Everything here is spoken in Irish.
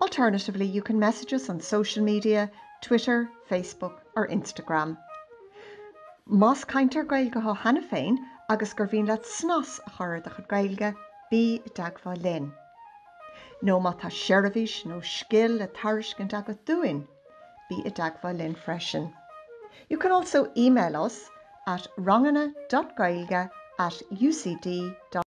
Alternatively, you can message us on social media, Twitter, Facebook or Instagram. Más cainteoir Gaeilge thú cheana féin agus gur mhian leat snas a chur ar do chuid Gaeilge, bí i dteagmháil linn. Nó má tá seirbhís nó scil le tairiscint agat dúinn, bí i dteagmháil linn freisin. You can also email us at ranganna.gaeilge at ucd.ie.